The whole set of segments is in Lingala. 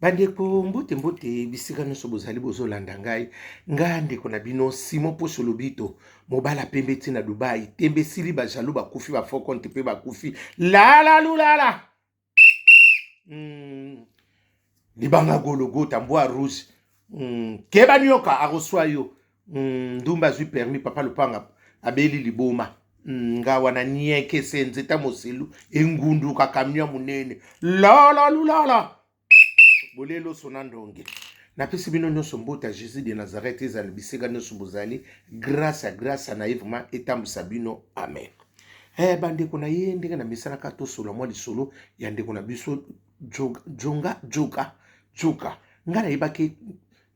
Bandeko mbote mbote bisika nyonso bozali bozolanda ngai nga ndeko na bino Simon Poso Lobito mobala pembe ti na Dubai tembe sili ba jaloux bakufi ba faux compte pe bakufi lala lulala mm. libanga gologota mbwa rouge mm. keba nioka akoswa yo Mm, ndumba azwi permis papa lupanga abeli liboma mm, nga wana nieke senze ta moselu engunduka kamio monene lalalulala bolelo sona ndonge napesi bino nyonso mbote ya jésus de nazareth ezala bisika nyonso bozali grâce ya grâce na ye vraiment etambwisa bino amen eh, bandeko na ye ndenge namesanaka tosolola mwa lisolo ya ndeko na biso jonga joka joka ngai nayebaki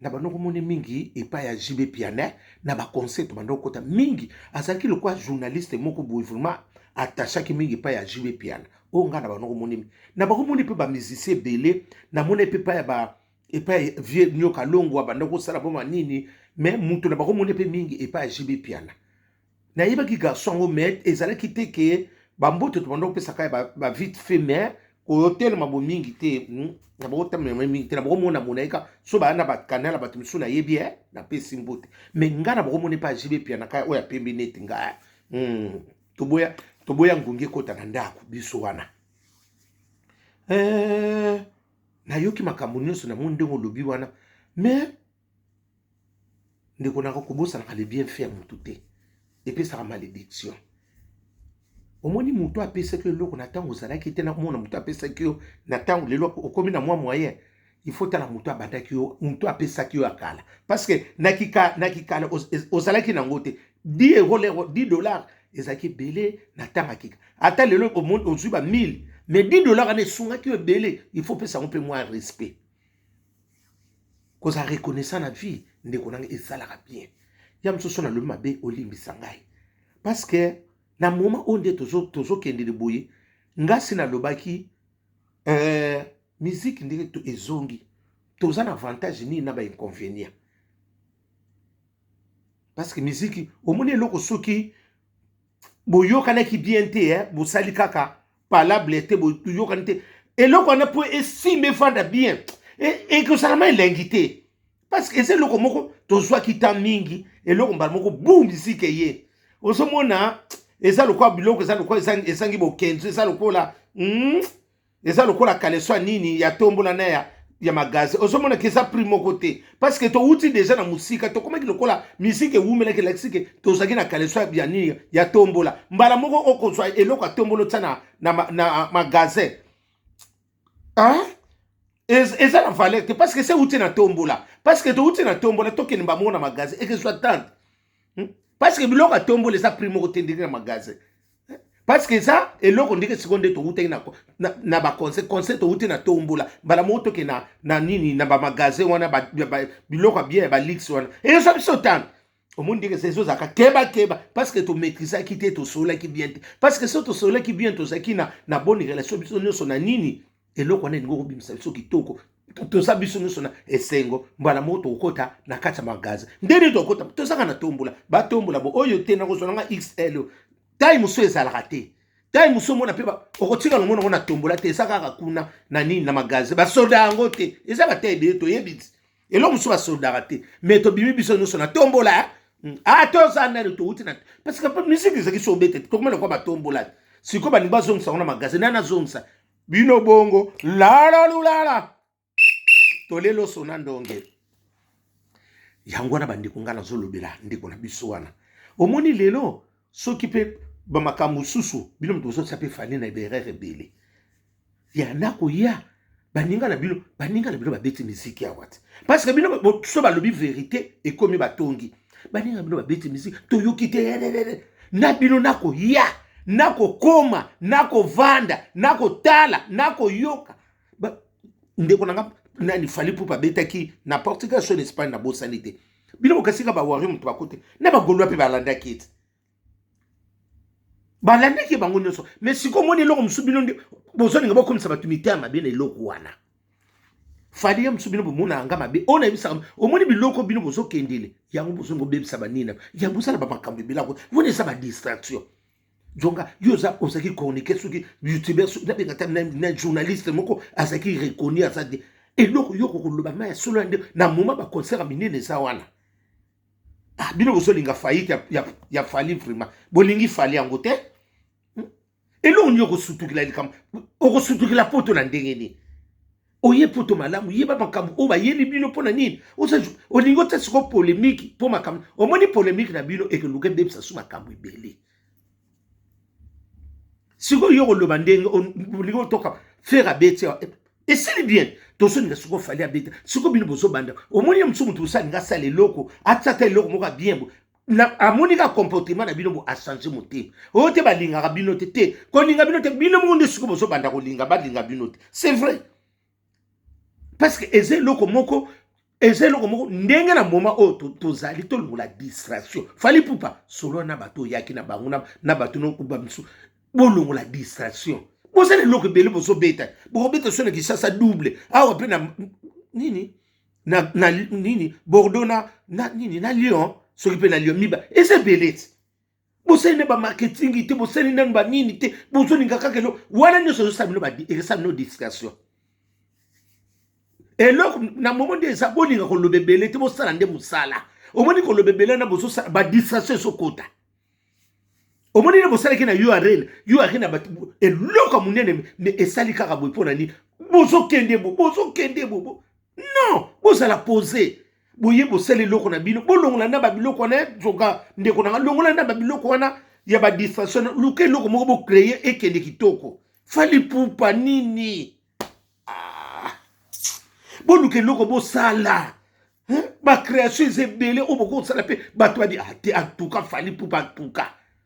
na bando komone mingi epai ya JB Pianet na ba conseil to bando kota mingi azalaki lokola journaliste moko boye vraiment attachaki mingi epai ya JB Piana oyo ngai na bando komone na bakomoni mpe ba musicien ebele namona mpe epai ya ba epai vieux nyoka longwa banda kosala boma nini mais moto na bakomoni mpe mingi epai ya JB Piana nayebaki garçon yango mais ezalaki te ke bamboto tobanda kopesaka ya bavite ba fait mais koyotelema bomingi te hmm, na bakotamema mingi te na bakomona mona ye kaka so baya na bakanala bato mosusu nayebi e napesi mbote mais ngai na bakomona epa jibe pianaka oyo apembi neti ngai hmm, toboya toboya ngungi ekota na ndako biso wana eh, nayoki makambo nyonso namoni ndenge olobi wana mais ndeko nako kobosanaka le bien fait ya motu te epesaka malédiction omoni motu apesaki yo eloko na ntango ozalaki te nakomona motu apesaki yo na ntango lelo okomi na mwa moyen il faut tala motu abandaki yo motu apesaki yo ya kala parce que na kikala na kikala ozalaki nango te 10 euro lero 10 dollars ezalaki ebele na ntango ya kika ata lelo ozwi ba 1000 mais 10 dollars wana esungaki yo ebele il faut pesa yango mpe mwa respect kozala reconnaissant na vie ndeko nanga esalaka bien ya mosusu nalobi mabe olimbisa ngai parce que na moma oyo nde tozokendele tozo boye ngasi nalobaki euh, miziki ndenge ezongi toza na avantage nini na bainconvénient parce que miziki omoni eloko soki boyokanaki bien te eh? bosali kaka palable te boyokani te eloko wana mpo esimba efanda bien ekosalama elengi te parce que eza eloko moko tozwaki temps mingi eloko mbala moko bu miziki eye ozomona eza lokola biloko eza lokola ezangi bokenzo eza lokola hmm? eza lokola kaleso ya nini ya tombola na ya ya magaze ozomona ke eza prix moko te parce que towuti deja na mosika tokomaki lokola miziki ewumelaki elakisi ke tozalaki na kaleso ya nini ya tombola mbala moko okozwa eloko ya tombolo tia na, na, na, na magasin hein? eza na valeur te parce que se ewuti na tombola parce que towuti na tombola tokende mbamoko na magasin ekezwa tante hmm? parce que biloko atombola eza prix moko te ndenge na magasin hmm? parce que eza eloko ndenge sikoyo nde towutaki na, na, na baconseil conseil towuti na tombola mbala moko toke na, na nini na bamagasin wana ba, ba, biloko ya bien ya balix wana eyosa biso tano omoni ndenge eza ezozalaka kebakeba parce que tomaitrisaki te tosololaki bien te parce que so tosololaki bien tozalaki na, na bonne relation biso nyonso na nini eloko wana elingi kobimisa biso kitoko toza biso nyonso na esengo mbala moko tokokota na kati ya magaze ndenge tokokota tozaka na tombola batombola bo oyo te nakozwa nanga xl oyo tai mosusu ezalaka te tai mosusu omona mpe okotika longo nango na tombola te eza kaka kuna na nini na magaze basoda yango te eza batai ebele toyebi eloko mosusu basodaka te me tobimi biso nyonso na tombola eh? hmm. ata ah, oza nani touti na parce que mpe misiki ezalaki so obete tokomela kwa batombola sikoyo balingi bazongisa yango na magaze nani azongisa bino bongo lala lulala tolelo sona ndonge yango wana bandeko ngai nazolobela ndeko na biso wana omoni lelo soki mpe bamakambo mosusu bino moto bozotisa mpe fani na eberere ebele ya nakoya baninga na bino baninga na bino babeti miziki awa te parceke bino so balobi verite ekomi batongi baninga bino babeti miziki toyoki te na bino nakoya nakokoma nakovanda nakotala nakoyoka ndeko na nga nani fali pupa abetaki na portugal so na espagne nabosani te bino bokasika bawari moto bakote na bagolois mpe balandaki ete balandaki bango nyonso me sikoyo omoni eloko mosusu bino nde bozolinga bokomisa bato mitema mabe na eloko wana fali ya mosusu bino bomonaka nga mabe oyo nayebisaka omoni biloko bino bozokendele yango bozolinga obebisa banina yango osala bamakambo ebelako wana eza badistraction jonga yo oza ozalaki chroniquer soki youtuber soki nabenga ta na journaliste moko azalaki reconnu aza te eloko yo kokoloba ma ya solo ya nde na moma baconcert ya minene eza wana ah, bino bozolinga faillite ya, ya, ya fali vrima bolingi fali yango te hmm? eloko nini okosutukila likambo okosutukila poto na ndenge nini oye poto malamu yeba makambo oyo bayeli bino mpo na nini olingi otya siko polemiki mpo makambo omoni polemiki na bino ekeluka ebebisa su makambo ebele sikoyo yo koloba ndenge olingi otoka fere abeti esili bien tozolinga sikoyo fali abeta sikoyo bino bozobanda omoni ye mosusu moto mosusu alingi asala eloko atia ata eloko moko ya bien bo amoni ka comportement na bino bo achange motema oyo te balingaka bino te te kolinga bino te bino moko nde sikoyo bozobanda kolinga balinga bino te c'est vrai parce que eza eloko moko eza eloko moko ndenge na moma oyo tozali to tolongola distraction fali pupa solo na bato oyaki na bango na bato nokuba misu bolongola distraction bozali eloko ebele bozobeta bokobeta so na kisasa double awa mpe na nini na, na nini bordeaux na, na nini na lyon soki mpe na lyon miba eza ebele ti bosali nde bamarketing te bosali nanu banini te bozolinga kaka elo wana nyonso ezosala bino ekosala bino distraction eloko na momo nde eza bolinga koloba ebele te bosala nde mosala omoni koloba ebele na bozosala badistraction ezokota omoni nde bosalaki na yo arena yo arena bato eloko ya monene me esali kaka boye mpo na nini bozokende bo bozokende bo non bozala pose boye bosala eloko na bino bolongola na babiloko wana zoka ndeko nanga longola na babiloko wana ya badistraction luka eloko moko bocreye ekende kitoko fali pupa nini ah. boluka eloko bosala bacréation eza ebele oyo bokosala mpe bato badi ah, te antuka fali pupa antuka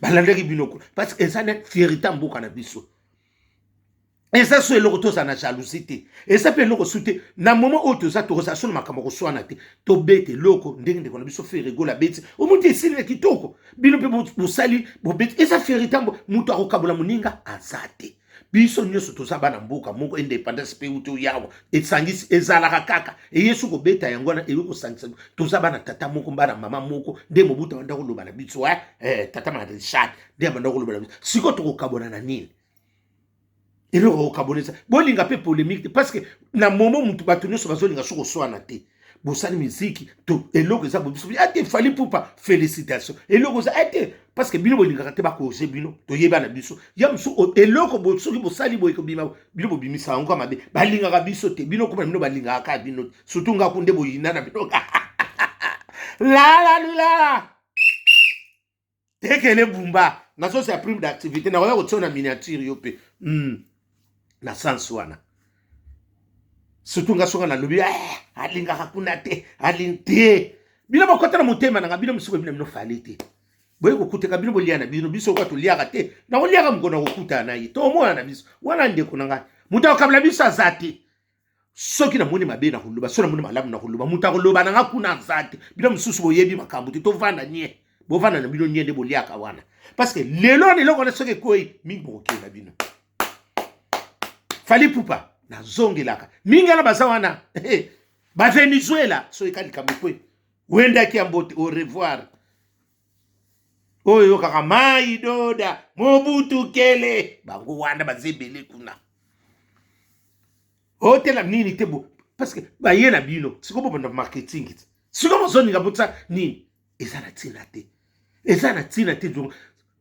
balandaki bino kuna parce que eza na fierita mboka na biso eza so eloko tozala na jalousie te eza mpe eloko su te na moment oyo toza tokozala so na makambo ya koswana te tobeta eloko ndenge ndeko na biso feregola abeti omonti esili na kitoko bino mpe bosali bobeti eza feritambo moto akokabola moninga aza te biso nyonso toza bana mboka moko independance mpe uto yawa esangisi ezalaka kaka eyesu kobeta yango wana eyo kosangisa toza bana tata moko bana mama moko nde mobuta banda koloba na biso eh, eh, tata marechal nde abanda koloba na biso sikoyo tokokabona na nini eloko okabonisa bolinga mpe polemique te parce que na momo motu bato nyonso bazolinga so koswana te bosali miziki to eloko eza bobiso ete eh, fali pupa félicitation eloko eza ete eh, parce que bino bolingaka te bakoze bino toyeba na biso ya mosusu eloko bo, soki bosali boye kobima bino bobimisa yango ka mabe balingaka biso te bino koma bino balingaka kaka bino surtout ngaku nde boyina na bino lala lulala tekele bumba na sosi ya prime d'activité nakoya kotia na miniature yo mpe mm. na sens wana surtout nga soka nalobi eh, alingaka kuna te alingi te bino bokota na motema nanga bino misuku bino bino fale te boye kokutaka bino bolia na bino biso kwa toliaka te nakoliaka mokona kokutana na ye tomonana biso wana ndeko na ngai moto akokabila biso aza te soki namoni mabe na koloba soki namoni malamu na koloba moto akoloba na nga kuna aza te bino mosusu boyebi makambo te tovanda nie bovanda na bino nie nde boliaka wana parce que lelo wana eloko wana soki ekwei mingi bokokenda bino fali pupa nazongelaka mingi wana baza wana bavenezuela soki ka likambo ekwe wendaki ya mbote au revoir oyo eyokaka mai doda mobutu kele bango wana baza ebele kuna otela nini te bo parce que baye na bino siko bobanda marketing te siko bozoninga botya nini eza na ntina te eza na ntina te donc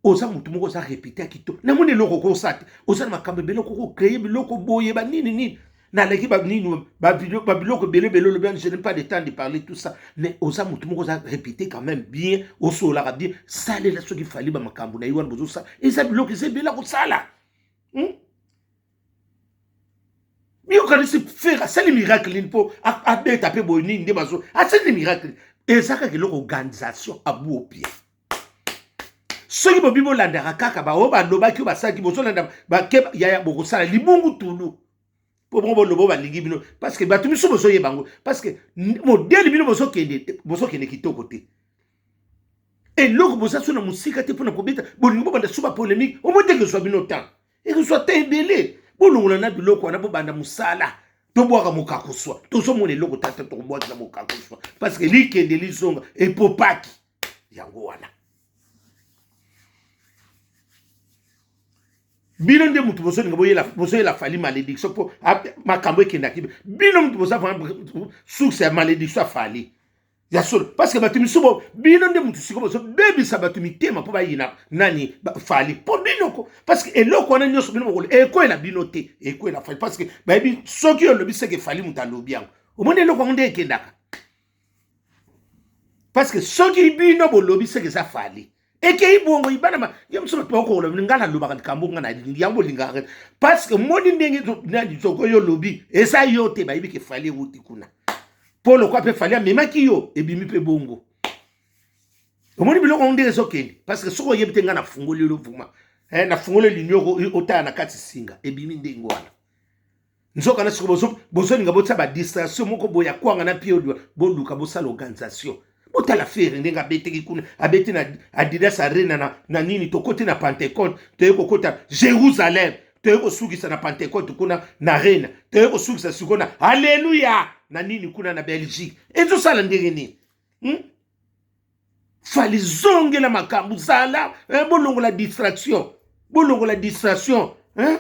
oza motu moko oza repete ya kitoko namoni eloko okosa te oza na makambo ebele okoko kreye biloko boye banini nini naleki banini babiloko ebele ebele olobi je n'ai pas de temps de parler tout ça mais oza motu moko oza répété quand même bien osololaka bien salela soki fali bamakambo na ye wana bozosala eza biloko eza ebele akosala hmm? yokanisi fere asali miracle nini mpo abeta mpe boye nini nde bazo asali miracle eza kaka eloko organisation abu opie soki bobi bolandaka kaka baoyo balobaki oyo basalaki bozolanda bakeba yaya bokosala libungu tulu mpo bongo bolobo balingi bino parceke bato miso bozoyeba yango parceke modele bino bozokende kitoko te eloko boza so na mosika te mpo na kobeta bolingi bobanda so bapolemike omoi ndenge ezwa bino ntango ekozwa ta ebele bolongola na biloko wana bobanda mosala tobwaka mokakuswa tozomona eloko tata tokobwakisa mokakuswa parceke likende lizonga epopaki yango wana bino nde moto bozolinga boyela fali malédiction mpo makambo ekendaki bino moto boza source ya malédiction ya fali ya solo parce que bato misusu bino nde moto sikoyo bozobebisa bato mitema mpo bayina nani fali mpo binoko parce que eloko wana nyonso bino bokolo ekwela bino te ekwela fali parce que bayebi soki olobi seke fali moto alobi yango omoni eloko yango nde ekendaka parce que soki bino bolobi seke eza fali ekei bongo ibana ma ye mosusu bato bakokola bino ngai nalobaka likambo ngai nalingi yango bolingaka parce que moni ndenge toko yo lobi eza yo te bayebi ke fali ewuti kuna mpo lokwa mpe fali amemaki yo ebimi mpe bongo omoni biloko yango ndenge ezokende parce que soki oyebi te ngai nafungoli yo vuma eh, nafungoli linioko otala na kati singa ebimi ndenge wana nzoka na siko bozo bozolinga botia ba distraction moko boya kwanga na pied odwa boluka bosala organisation botala fere ndenge abeteki kuna abeti na adidas arena na, na nini tokoti na pentecote toye kokota jerusalem toye kosukisa na pentecote kuna na arena toye kosukisa siko na aleluya na nini kuna na belgique ezosala ndenge nini hmm? fali zongela makambo zala eh, bolongola distraction bolongola distraction eh?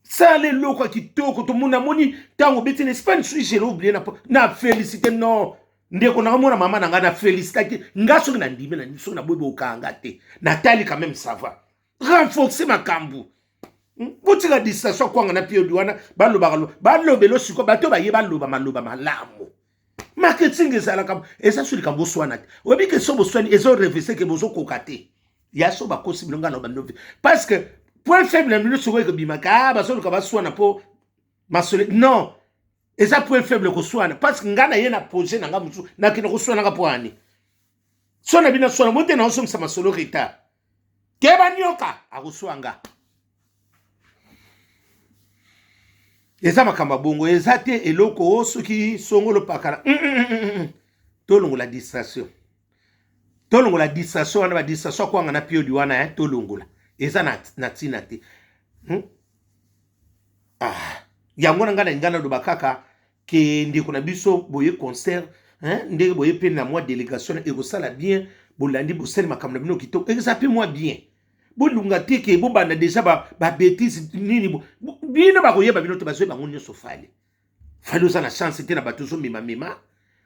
sala eloko ya kitoko tomoni namoni ntango obeti na espagne soki jele oblie na, na félicité non ndeko nanga mwana mama na ngai na félicitaki nga soki nandimi na soki naboyi bokanga te natali quand même ça va renforce makambo hmm? botika distraction akwanga na piodi wana balobaka balobelo sikoyo bato baye baloba maloba malamu marketing ezalaka eza so likambo oswana te oyebi ke so boswani ezo revese ke bozokoka te ya so bakosi bino ngai na bando parce que point faible na bino sikoyo ekobimaka ah, bazoluka baswana mpo masole non eza point faible koswana parce que ngai na ye na projet na ngai mosusu nakende koswanaka mpo ani so na bino aswana bote na osomisa masolo retard keba nioka akosua nga eza makambo ya bongo eza te eloko o soki songolo pakala mm, mm, mm, mm, mm. tolongola distraction tolongola distraction wana badistraction akwanga na piodi wana eh, tolongola eza na, na ntina te hmm? ah. yango na ngai na ngai naloba kaka ke ndeko na biso boye concert hein, ndenge boye mpe na mwa delegation ekosala bien bolandi bosali makambo na bino kitoko eza mpe mwa bien bolunga te ke bobanda deja babetise ba nini bino bakoyeba bino te bazwi bango nyonso fale fale oza na chance te na bato ozomemamema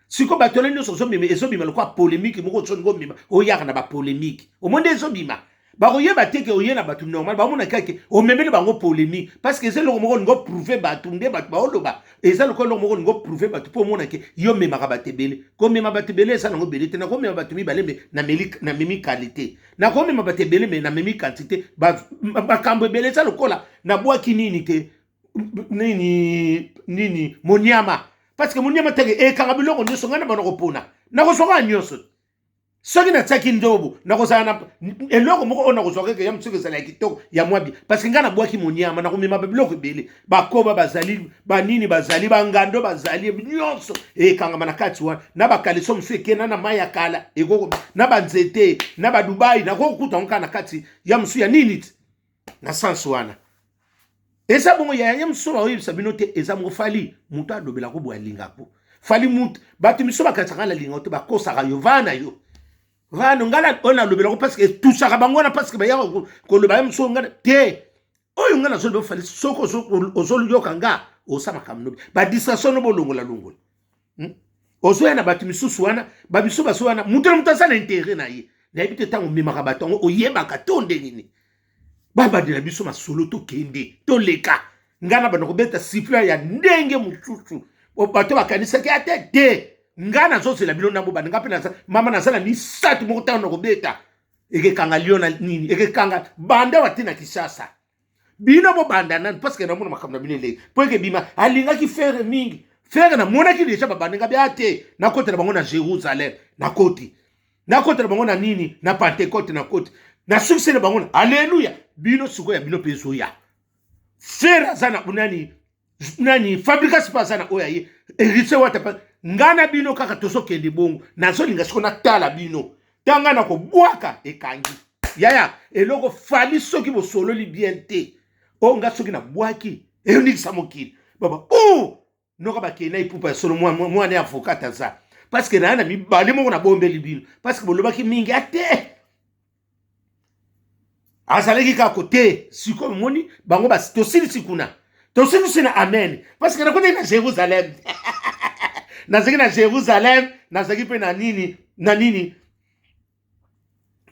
sikoyo bato wana nyonso ozomema ezobima lokola polemike moko ozolinga omema oyaka na bapolemike omoni nde ezobima bakoyeba te ke oye na bato normal bamona kaka ke omemeli bango polémique parce que eza eloko moko olingi oprouve bato nde bato baoloba eza lokola eloko moko olingi oprouve bato mpo omona ke yo omemaka bato ebele komema bato ebele eza nango ebele te nakomema bato mibale me namemi qualité nakomema bato ebele me namemi quantité makambo ebele eza lokola nabwaki nini te nini nini moniama parce que moniama teke ekanga biloko nyonso ngai na bana kopona nakozwaka nyonso soki natiaki ndobo nakozala na eloko moko oyo nakozwa keke ya mosuki ezala ya kitoko ya mwabi parceke ngai nabwaki monyama nakomema babiloko ebele bakoba bazali banini bazali bangando bazali nyonso ekangama na kati wana na bakaliso mosusu ekenda na mai ya kala ekoko na banzete na badubai nakokuta yango kaka na kati ya mosusu ya nini ti na sens wana eza bongo yaya ye mosusu oyo baoyebisa bino te eza moko fali moto alobela ko boye alinga ko fali moto bato misusu bakanisaka na linga te bakosaka yo vaa na yo vaa no ngai oyo nalobela ko parceke etusaka bango wana parceke bayaka koloba ye mosusu ngai te oyo ngai nazoloba fali soki ozoyoka nga osa makambo nobi badistraction no bolongola longola hmm? ozoya na bato misusu wana babiso baso wana moto na moto aza na intere na ye nayebi te ntango omemaka bato yango oyebaka to nde nini babandela biso masolo tokende toleka ngai na banda kobeta sifle ya ndenge mosusu bato bakanisaki ata te ngai nazozela bino ndambo banda ngai mpe naza mama naza na misato moko ntango nakobeta ekekanga lio na nini ekekanga banda wate na kisasa bino bobanda nani parce que namona makambo na bino eleki mpo eke bima alingaki fere mingi fere namonaki deja babaninga bia te nakotela bango na jérusalem nakoti nakotela bango na nini na pentecote nakoti nasukisele bango na alleluya bino sikoyo ya bino mpe ezoya fere aza na nani nani fabrigas mpe aza na oyo aye eritie wata mpe ngai na bino kaka tozokende bongo nazolinga siko natala bino ntango ngai nakobwaka ekangi yaya eloko fali soki bosololi bien te oyo ngai soki nabwaki eyoningisa mokili baba o noka bakei na ipupa ya solo mwana ya avokat aza parceke naye na mibale moko nabombeli bino parceke bolobaki mingi ate azalaki kaka kote sikoyo moni bango basi tosilisi kuna tosilisi na amen parceke nakotaki na jérusalem nazalaki na jérusalem nazalaki mpe na nini na nini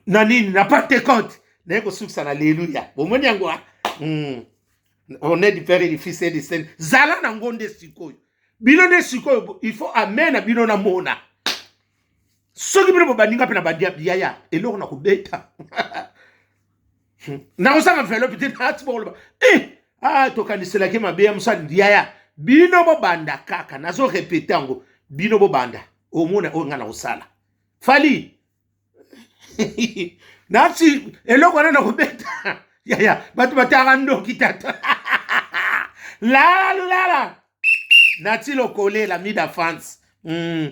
na nini na pentecote naye kosukisa na leluya bomoni yango mm. honneur du père et du fils et du saint zala nango nde sikoyo bino nde sikoyo il faut amen na bino namona soki bino bobandi nga mpe na bandi yaya eloko na kobeta hmm. nakozanga velope te nati bokoloba e eh, a ah, tokaniselaki mabe ya mosali yaya bino bobanda kaka nazo repete yango bino bobanda omona oyo ngai nakosala fali nati eloko wana nakobeta yaya bato bataka ndoki tata lala lulala nati lokolela mida france mm.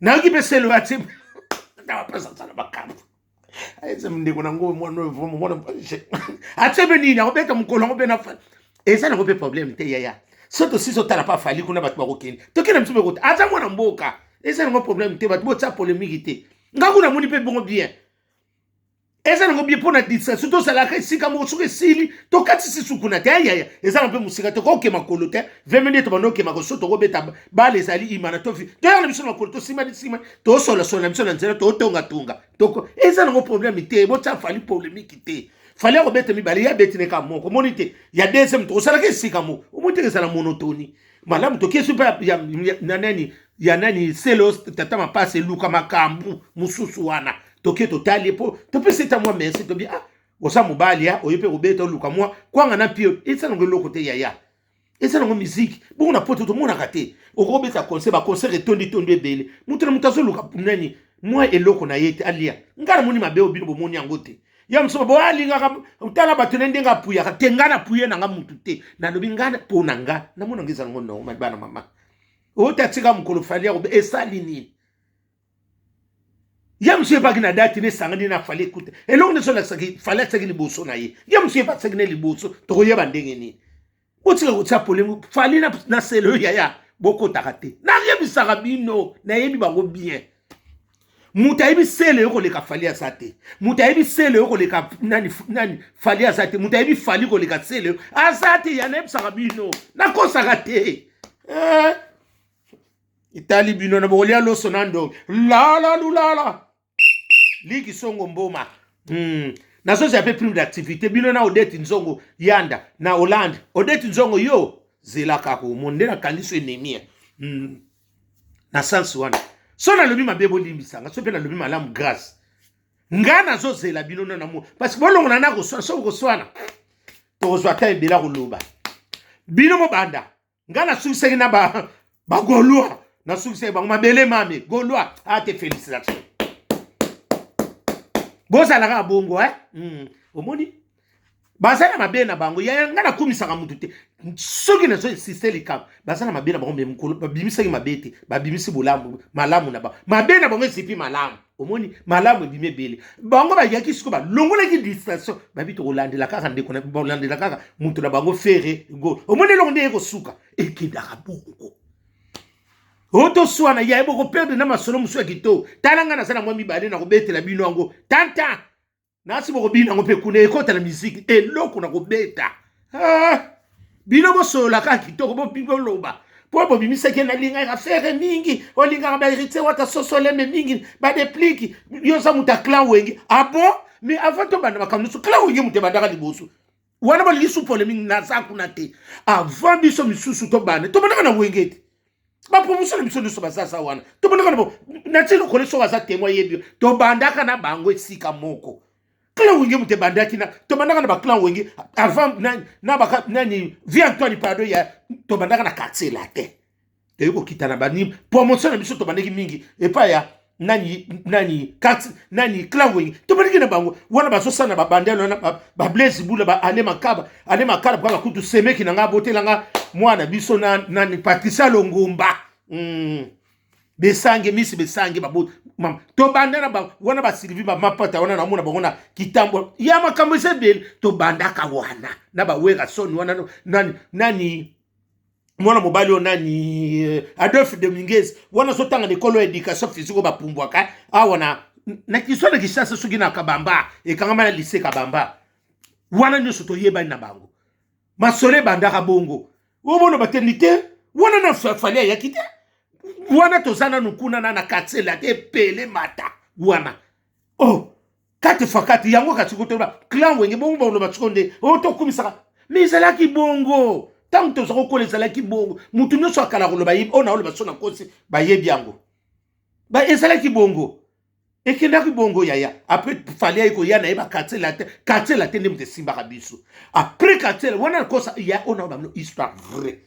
nayoki mpe selo ya ti apesa asala makambo eza ndeko na ngo mwana atie mpe nini akobeta mokolo yango mpe na eza nango mpe problème te yaya so tosisi otala mpe afali kuna bato bakokende tokenda biso mpe kota aza mwana mboka eza nango problème te bato botia polemiki te nga kuna moni mpe bongo bien eza nango bie mpo na distraction tozalaka esika moko soki esili tokatisi sukuna te ayaya eza na mpe mosika te koke makolo te veme nde tobanda okema koso tokobeta bale ezali imana tofi toyaka na biso na makolo tosimani simani tosolasola na biso na nzela totongatonga toko eza nango probleme te botya fali polemiki te fali akobeta mibale ye abeti neka moko omoni te ya deuxième to osalaka esika moko omoni te ezala monotoni malamu tokesi mpe na nani ya nani selos tata mapasi eluka makambo mosusu wana toke totali ye mpo topesi eta mwa merci tobi ah oza mobali ya oye mpe kobeta oluka mwa kwanga na mpio eza nango eloko te yaya eza nango miziki bongo na poto tomonaka te okobeta concert baconcert etondi tondi ebele moto na moto azoluka nani mwa eloko na ye te alia ngai namoni mabe oyo bino bomoni yango te ya mosusu bo alingaka ah, tala bato na ndenge apuyaka te ngai napuye na ngai motu te nalobi ngai mpo na ngai namonanga eza nango nongo mabana mama oyo tatika mokolo fali yakobe esali nini ye mosusu ebaki na dati na esangani na fali ekuta eloko nyonso olakisaki fali atisaki liboso na ye ye mosusu ebakisaki na liboso tokoyeba ndenge nini botika kotia polemi fali na, na selo yaya bokotaka te nayebisaka bino nayebi bango bien moto ayebi selo yo koleka fali aza te moto ayebi selo yo koleka nani, nani fali aza te moto ayebi fali koleka selo yo aza te ya nayebisaka bino nakosaka te eh. etali bino na bokolia loso na ndongi lala lulala liki songo mboma mm. nazozi ape prime d'activité bino na odeti nzongo yanda na hollande odeti nzongo yo zela kaka omoni nde nakangi so enemie mm. na sansi wana so nalobi mabe bolimbisanga so mpe nalobi malamu grâce ngai nazozela bino na namo parce bolongola na koswana so bokoswana tokozwa ta ebela koloba bino mobanda nga nasukisaki na ba bagolois nasukisaki bango mabele mame golois ate ah, félicitation bozala kaka bongo eh? mm. omoni baza na mabe na bango yaya ngai nakumisaka motu te soki nazo insiste likambo baza na mabe na bango me mokolo babimisaki mabe te babimisi bolamu malamu na bango mabe na bango ezipi malamu omoni malamu ebimi ebele bango bayaki siko balongolaki distraction babi tokolandela kaka ndeko balandela kaka moto na bango fere gol omoni eloko nde ye kosuka ekendaka bongo otoswana yaye bokoperde na masolo mosusu ya kitoko tala ngai naza na mwa mibale nakobetela bino yango tanta nasi bokobina yango mpe kuna ekota na miziki eloko na kobeta ah, bino bosolola kaka kitoko boloba mpo bobimisaki nalingaka fere mingi olingaka baheritier wata sosoleme mingi badepliki yo oza moto ya clan wenge abo ah mais avant tobanda makambo nyonso clan wenge moto ebandaka liboso wana balingi su polemique naza kuna te avant biso misusu tobanda tobandaka na wenge te bapromotion na biso nyonso bazaza wana tobandaka na bo natie lokole soko aza temo ayebi tobandaka na bango esika moko clan wenge moto ebandaki na tobandaka na baclan wenge avant nani vie antoine pardo ya tobandaka na quartier latin eyi kokitana bani promotion na biso tobandeki mingi epai ya nani nani kat nani clawing tobandeki na bango wana bazosala na babandele wana bablaise bula ba ane makaba ane makala mpaka kutu semeki na ngai abotela ngai mwana biso na nani patricia longomba mm. besange misi besange baboti mama tobanda na bango wana basilivi bamapata wana namona bango na kitambo ya makambo eza ebele tobandaka wana na bawerason wana nani nani mwana mobali oyo nani euh, adolphe dominguez wana azotanga na ekolo ya éducation physique oyo bapumbwaka awa na na kiso na kishasa soki na kabamba ekangama na lise kabamba wana nyonso toyebani na bango masolo ebandaka bongo omona bateni te wana na fali ayaki te wana toza nanu kuna na na katsela te pele mata wana oh kati fakati yango kati kotoba clan wenge bongo baloba siko nde oyo oh, tokumisaka me ezalaki bongo ntango toza kokola ezalaki bongo motu nyonso akala koloba ye oyo oh, naoloba so na kosi bayebi yango ezalaki bongo ekendaki bongo yaya apres fali ayi koya na ye bakartier latin kartier latin nde moto esimbaka biso apres kartier wana nakosa ya oyo naoloba bino histoire vrai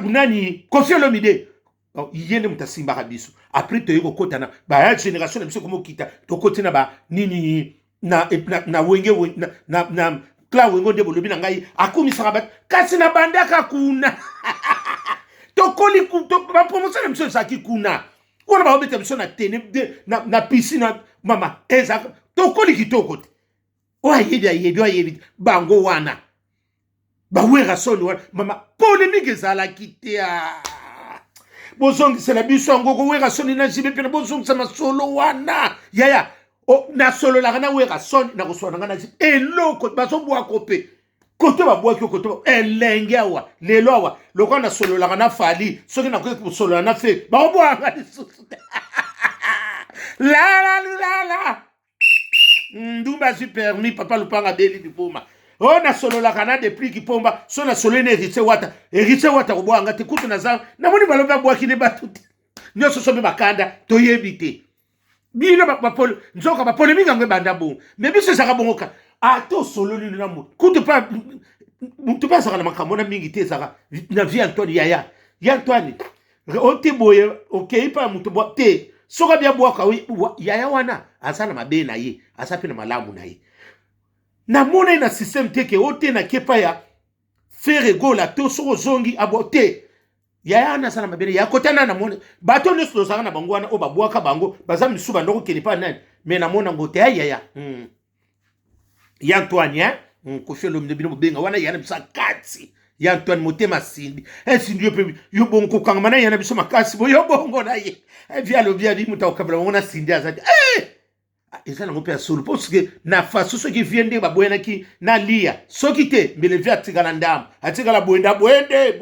nani kofi olomide Donc, ye nde moto asimbaka biso après toye kokota na baya génération na biso komokita tokoti na ba nini na, na, na wenge na, na, na cla wengo nde bolobi na ngai akumisaka bato kasi na bandaka kuna tokoli bapromotion na biso ezalaki kuna wana baobeta biso na tene na, na piscine mama ezaka tokoli kitoko te oyo ayebi ayebi oyo ayebi bango wana ba werrason wana mama polemique ezalaki te ah. bozongisela biso yango ko werrason na jibe mpena bozongisa masolo wana yaya oh, nasololaka na werrason nakoswa na ngai na jibe eloko bazobwako mpe kote babwaki okote elenge awa lelo awa lokola nasololaka na fali soki nakoki kosolola na fe bakobwaka lisusu te lalalilala ndumba azwi permis papa lupanga beli liboma o oh, nasololaka na depuis kipomba so nasololi na héritier wata héritier wata kobwaka nga te kutu naza namoni balobi abwaki ne bato te nyonso so mpe bakanda toyebi te bino nzoka bapolemiki yango ebanda bongo me biso ezalaka bongo ka ata osololi na moto kutu mpe moto mpe azalaka na makambo na mingi te ezalaka na vie antoine yaya ya antoine ote boye okei mpa ya moto bwa te soki abia bwaka yaya wana aza na mabe na ye aza mpe na malamu na ye namona ye na systeme te ke ote na kepa ya fere gola to soki ozongi abo te yaya wana aza na mabe na ye akotana na mona bato nyonso tozalaka na bango wana oyo babwaka bango baza misusu bandoko kende mpa nani me namona ngo te ya yaya hmm. ya Antoine hein hmm, kofi olomide bino bobenga wana yana biso akati ya Antoine motema simbi esimbi eh, yo mpe yo bongo kokangama na yana biso makasi bo yo bongo na ye evi eh, alobi abi moto akokabela bango na sindi aza te eh! ah, eza nango mpe ya solo mpo soki na faso soki vie nde baboyanaki na liya soki te mbele vie atikala ndambo atikala boye nda boye nde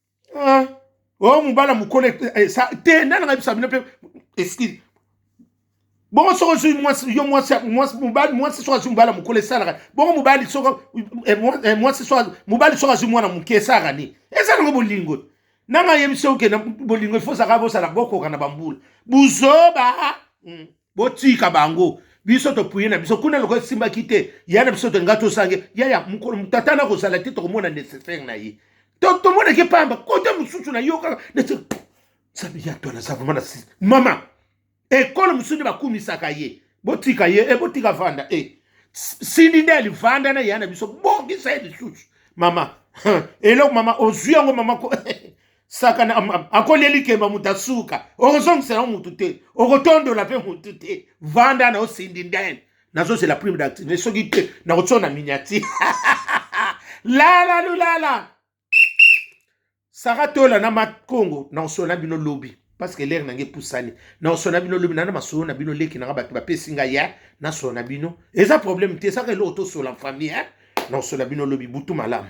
ah, oh mobala mokolo eh, eh, te nani ngai bisa bino mpe excuse bongo soko ozwi mwasi yo mwasi mwasi mobali mwasi soko azwi mobali ya mokolo esalaka bongo mobali soko eh, eh, mwasi soko mobali soko azwi mwana moke esalaka nini eza nango bolingo nanga yebisi okenda bolingo ifo ozalaka bosala bokoka na bambula buzoba hmm. botika bango biso topuye na biso kuna lokola esimbaki te ya na biso tolinga tosange ya ya mokolo tata na kozala te tokomona necessaire na ye tomonaki mpamba kote mosusu na yo kaka nzambe ya to naza vraimen na sisi mama ekolo mosusu nde bakumisaka ye botika ye e botika vanda e eh. sindi nde alivanda na ya na biso bongisa ye lisusu mama eloko mama ozwi yango mama ko sakana akolia likemba moto asuka okozongisela yo motu te okotondola mpe motu te vanda na osindi ndene nazozela prime d'activité soki te nakotyo na miniati lala lulala saka tola na makongo nakosola na bino lobi parceke lere nange epusani nakosola na bino lobi nana masolo na bino leki nanga bato bapesi ngai ya nasola na bino eza problème te saka eloko tosola famille nakosola bino lobi butu malamu